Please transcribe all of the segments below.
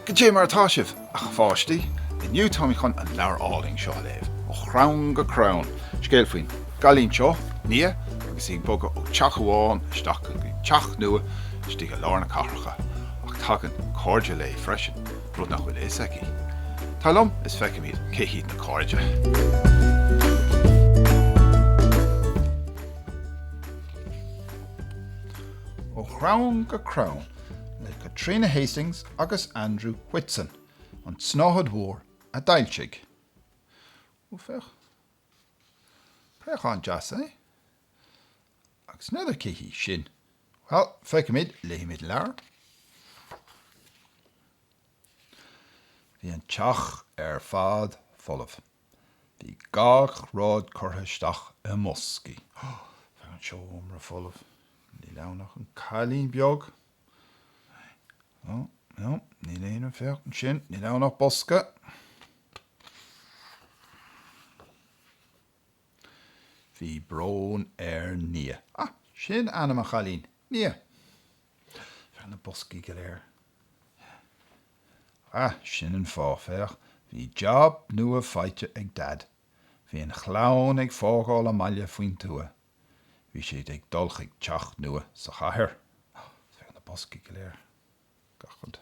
Go dté mar atá sibh, a pháistí? Inniu táim chun an leabhar álainn seo a léamh, Ó Chrann go Crann, scéal faoin gcailín seo, Nia, agus í ag bogadh ó teach amháin isteach go dtí teach nua istigh i lár na cathracha, ach tagann cairde léi freisin. rud nach bhfuil a fhios aici. Tar liom is feicfimid cé hiad na cairde. Ó Chrann go Crann le Caitríona Hastings agus Andrew Whitson, An tSnáthaid Mhór a d'fhoilsigh. Ó féach. Préachán deas, é? Agus n'fheadar cé hí sin. Bhuel, feicimid, léimid leabhar. Bhí an teach ar fad folamh. Bhí gach rud curtha isteach i mboscaí. Féach an seomra folamh. Níl ann ach an cailín beag. Ó, ó, níl aon rud, féach ansin, níl ann ach bosca. Bhí brón ar Nia. Ah, sin ainm an chailín, Nia. Féach na boscaí go léir. Yeah. Ah, sin an fáth, féach, bhí jab nua faighte ag Dad. Bhí an chlann ag fágáil a mbaile faoin tuath. Bhí siad ag dul chuig teach nua sa chathair. Ah, féach na boscaí go léir. Gach rud.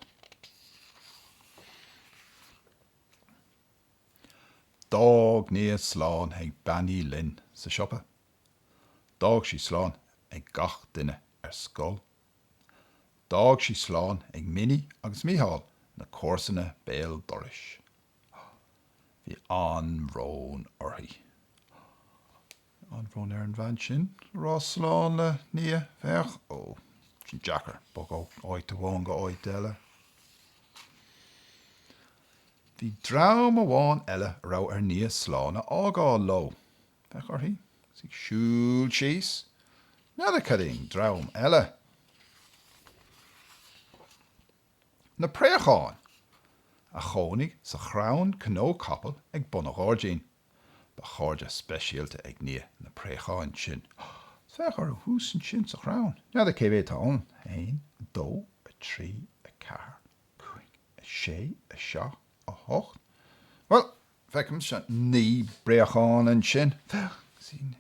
D'fhág Nia slán ag Bean Uí Fhloinn sa siopa. D'fhág sí slán ag gach duine ar scoil. D'fhág sí slán ag Minnie agus Micheál, na comharsana béal dorais. Bhí an-bhrón uirthi. An-bhrón ar an bhean sin a rá slán le Nia, féach, ó, sin deacair, bogadh ó áit amháin go áit eile. Bhí dream amháin eile a raibh ar Nia slán a fhágáil leo, féach uirthi, is í siúl síos, n'fheadar cad é an dream eile. Na préacháin a chónaigh sa chrann cnó capaill ag bun a' ghairdín. Ba chairde speisialta ag Nia na préacháin sin. Féach orthu thuas ansin sa chrann. N'fheadar cé mhéad atá ann? A haon, a dó, a trí, a ceathair, a cúig, a sé, a seacht, a hocht, bhuel, feicimse naoi bpréachán ansin. Féach,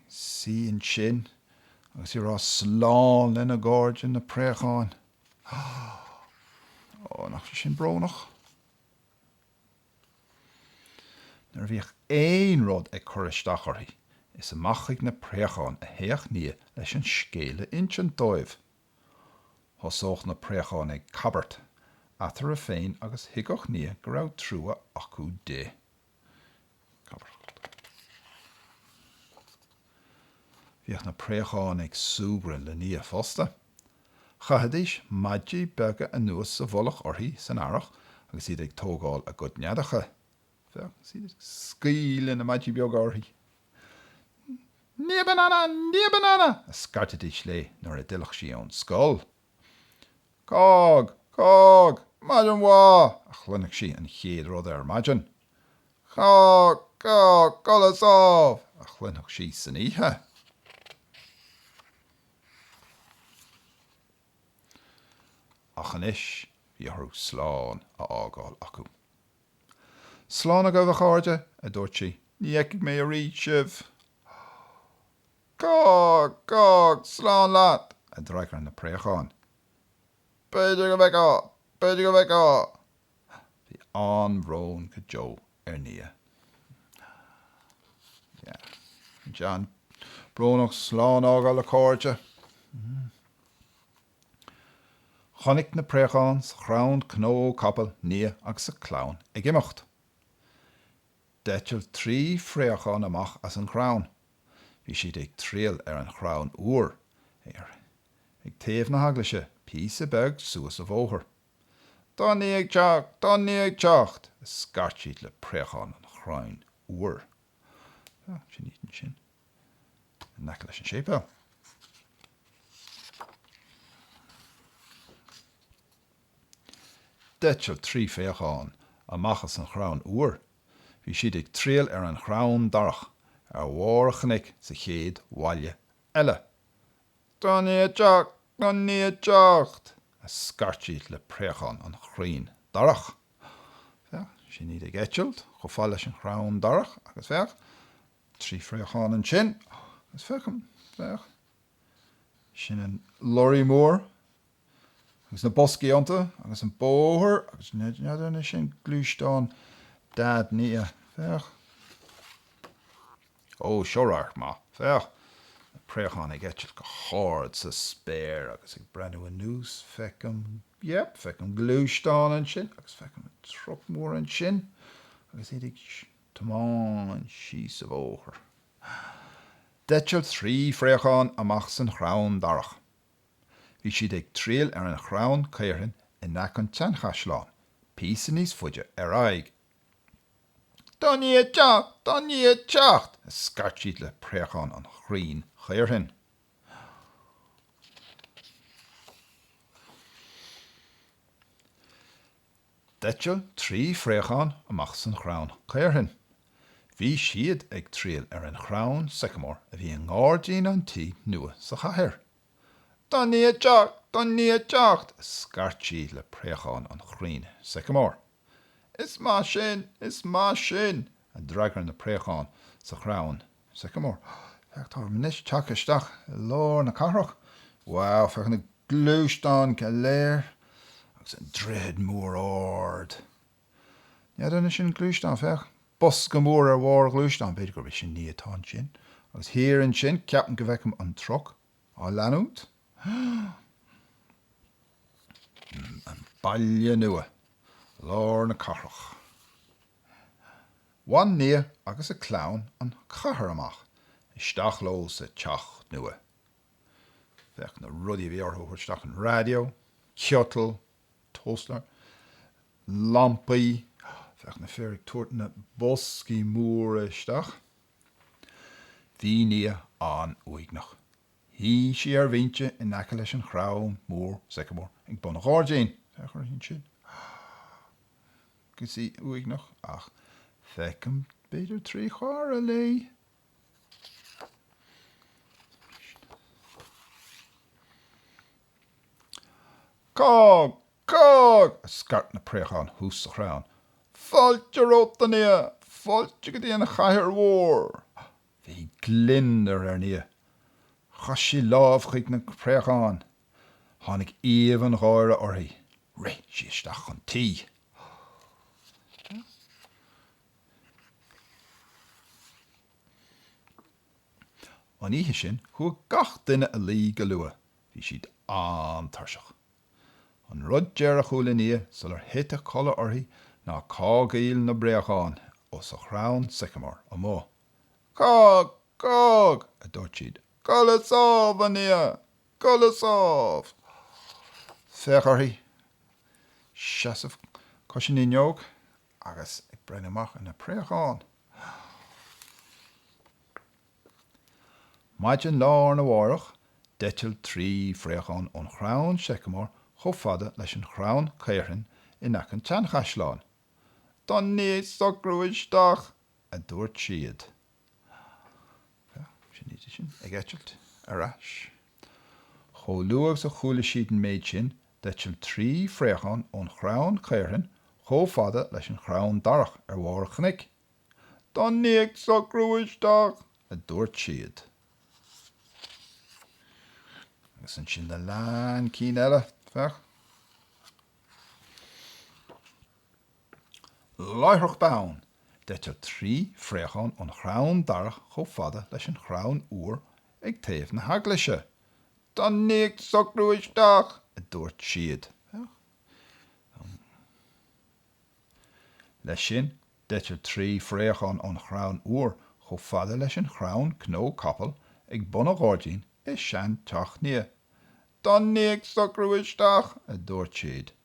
sí ansin agus í ag rá slán lena gcairde, na préacháin. Ó, nach bhfuil sin brónach? Nuair a bhíodh aon rud ag cur isteach uirthi, is amach chuig na préacháin a théadh Nia leis an scéal a insint dóibh. Thosódh na préacháin ag cabairt eatarthu féin agus thuigfeadh Nia go raibh trua acu di. Bhíodh na préacháin ag súgradh le Nia fosta. Chaithidís maidí beaga anuas sa mhullach uirthi san earrach agus iad ag tógáil a gcuid neadacha. Féach iad ag scaoileadh na maidí beaga uirthi. Nia banana! Nia banana! a scairtidís léi nuair a d'fhillfeadh sí ón scoil. Cág! Cág! Maidin mhaith! a chluinfeadh sí an chéad rud ar maidin. Cág! Cág! Codladh sámh! a chluinfeadh sí san oíche. Ach anois bhí uirthi slán a fhágáil acu. Slán agaibh, a chairde, a dúirt sí, ní fheicfidh mé arís sibh! Cág! Cág! Slán leat! a d'fhreagair na préacháin. B'fhéidir go bhfeicfeá! B'fhéidir go bhfeicfeá! Bhí an-bhrón go deo ar Nia. Tá sé an-bhrónach slán a fhágáil le cairde. Chonaic na préacháin sa chrann cnó capall Nia agus a clann ag imeacht. D'eitil trí phréachán amach as an chrann. Bhí siad ag triall ar an Chrann Iúir, ar, ag taobh na heaglaise, píosa beag suas a bhóthar. Tá Nia ag teacht! Tá Nia ag teacht! a scairt siad le préacháin an Chrainn Iúir. Sin iad ansin, in aice leis an séipéal. D'eitil trí phréachán amach as an chrann iúir. Bhí siad ag triall ar an chrann darach ar bharr an chnoic sa chéad bhaile eile. Tá Nia ag teacht! Tá Nia ag teacht! a scairt siad le préacháin an chrainn darach. Féach, sin iad ag eitilt chomh fada leis an chrann darach agus féach, trí phréachán ansin, agus feicim, féach, sin an lorry mór agus na boscaí iontu, agus an bóthar, agus n'fheadar an é sin gluaisteán dad Nia. Féach. Ó, seo radharc maith. Féach. Na préacháin ag eitilt go hard sa spéir, agus ag breathnú anuas, feicim, yep, feicim gluaisteán ansin, agus feicim truc mór ansin, agus iad ag tiomáint síos a' bhóthar. D'eitil trí phréachán amach as an chrann darach. Bhí siad ag triall ar an chrann caorthainn in aice an tseanchaisleáin, píosa níos faide ar aghaidh. Tá Nia ag teacht! Tá Nia ag teacht! a scairt siad le préacháin an chrainn chaorthainn. D'eitil trí phréachán amach as an chrann caorthainn. Bhí siad ag triall ar an chrann sycamore a bhí i ngáirdín an tí nua sa chathair. Tá Nia ag teacht! Tá Nia ag teacht! a scairt siad le préacháin an chrainn sycamore. Is maith sin! Is maith sin! a d'fhreagair na préacháin sa chrann Sycamore. Féach, táim anois ag teacht isteach i lár na cathrach. Wow, féach na gluaisteáin go léir agus an droichead mór ard. Ní fheadar an é sin gluaisteán? Féach, bosca mór ar bharr a ghluaisteáin, b'fhéidir gurb í sin Nia atá ansin. Agus thiar ansin, ceapaim go bhfeicim an truck á leanúint. An Baile Nua, lár na cathrach. Bhain Nia agus a clann an chathair amach. Isteach leo sa teach nua. Féach na rudaí a bhí orthu a thabhairt isteach, an raidió, ciotal, toaster, lampaí, féach na fir ag tabhairt na boscaí móra isteach. Bhí Nia an-uaigneach. Shuigh sí ar bhinse in aice leis an chrann mór sycamore ag bun an ghairdín. agus í uaigneach, ach feicim, b'fhéidir trí chara léi, Cág! Cág! a scairt na préacháin thuas sa chrann. Fáilte romhat, a Nia! Fáilte go dtí an chathair mhór! Bhí gliondar ar Nia. Chroith sí lámh chuig na préacháin. Tháinig aoibh an gháire uirthi. Rith sí isteach chun tí. An oíche sin, chuaigh gach duine a luí go luath. Bhí siad an-tuirseach. An rud deireanach a chuala Nia sular thit a codladh uirthi ná cágaíl na bpréachán thuas sa chrann sycamore amuigh. Cág! Cág! a dúirt siad. Codladh sámh, a Nia! Codladh sámh! Féach uirthi, ag seasamh cois an fhuinneog agus ag breathnú amach ar na préacháin. Maidin lá arna mhárach, d'eitil trí phréachán ón chrann seiceamóir chomh fada leis an chrann caorthainn in aice an tseanchaisleáin. Tá Nia ag socrú isteach! a dúirt siad. Sin iad sin ag eitilt ar ais. Chomh luath agus a chuala siad an méid sin, d'eitil trí phréachán ón chrann caorthainn chomh fada leis an chrann darach ar bharr an chnoic. Tá Nia ag socrú isteach! a dúirt siad. Agus ansin a lean cinn eile, féach. láithreach bonn, d'eitil trí phréachán ón chrann darach chomh fada leis an chrann iúir ag taobh na heaglaise. Tá Nia ag socrú isteach! a dúirt siad. Leis sin, d'eitil trí phréachán ón chrann iúir chomh fada leis an chrann cnó capaill ag bun an ghairdín i seanteach Nia. Tá Nia ag socrú isteach! a dúirt siad.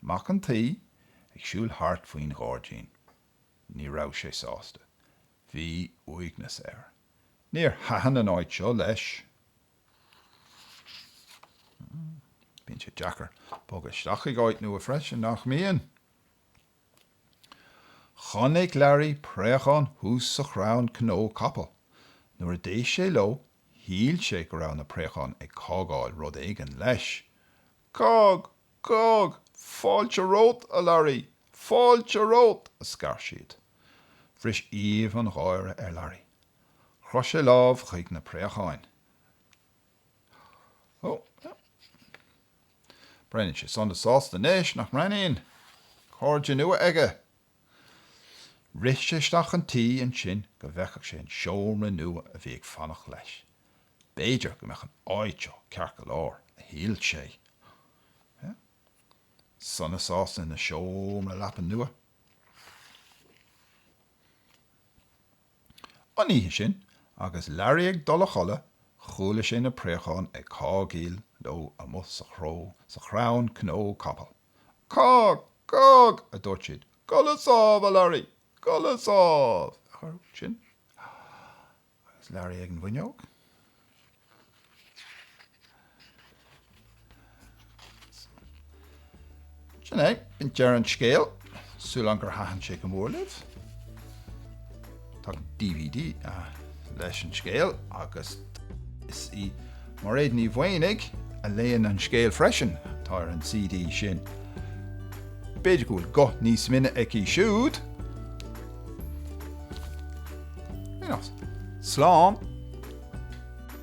mac an tí, ag siúl thart faoin ghairdín. Ní raibh sé sásta. Bhí uaigneas air. Níor thaitin an áit seo leis. Bíonn sé deacair bogadh isteach ag áit nua freisin, nach mbíonn? Chonaic Learaí préachán thuas sa chrann cnó capaill. Nuair a d'éist sé leo, shíl sé go raibh na préacháin ag cágaíl rud éigin leis. Cág! Cág! Fáilte romhat, a Larry! Fáilte romhat! a scairt siad. Bhris aoibh an gháire ar Larry. Chroith sé lámh chuig na préacháin. Ó, yeah. Breathnaíonn sé sona sásta anois, nach mbreathnaíonn? Cairde nua aige! Rith sé isteach chun tí ansin go bhfeicfeadh sé an seomra nua a bhí ag fanacht leis. B'fhéidir go mbeadh an áit seo ceart go leor, a shíl sé. Sona sásta ina seomra leapan nua. An oíche sin, agus Larry ag dul a chodladh, chuala sé na préacháin ag cágaíl leo amuigh sa chrann cnó capaill. Cág! Cág! a dúirt siad. Codladh sámh, a Larry! Codladh sámh! Sin agus Larry ag an bhfuinneog. Sin é, b'in deireadh an scéil, súil agam gur thaitin sé go mór libh. Tá dvd leis an scéal agus is í Mairéad Ní Mhaonaigh a léann an scéal freisin atá ar an CD sin. B'fhéidir go bhfuil guth níos binne aici siúd? Slán!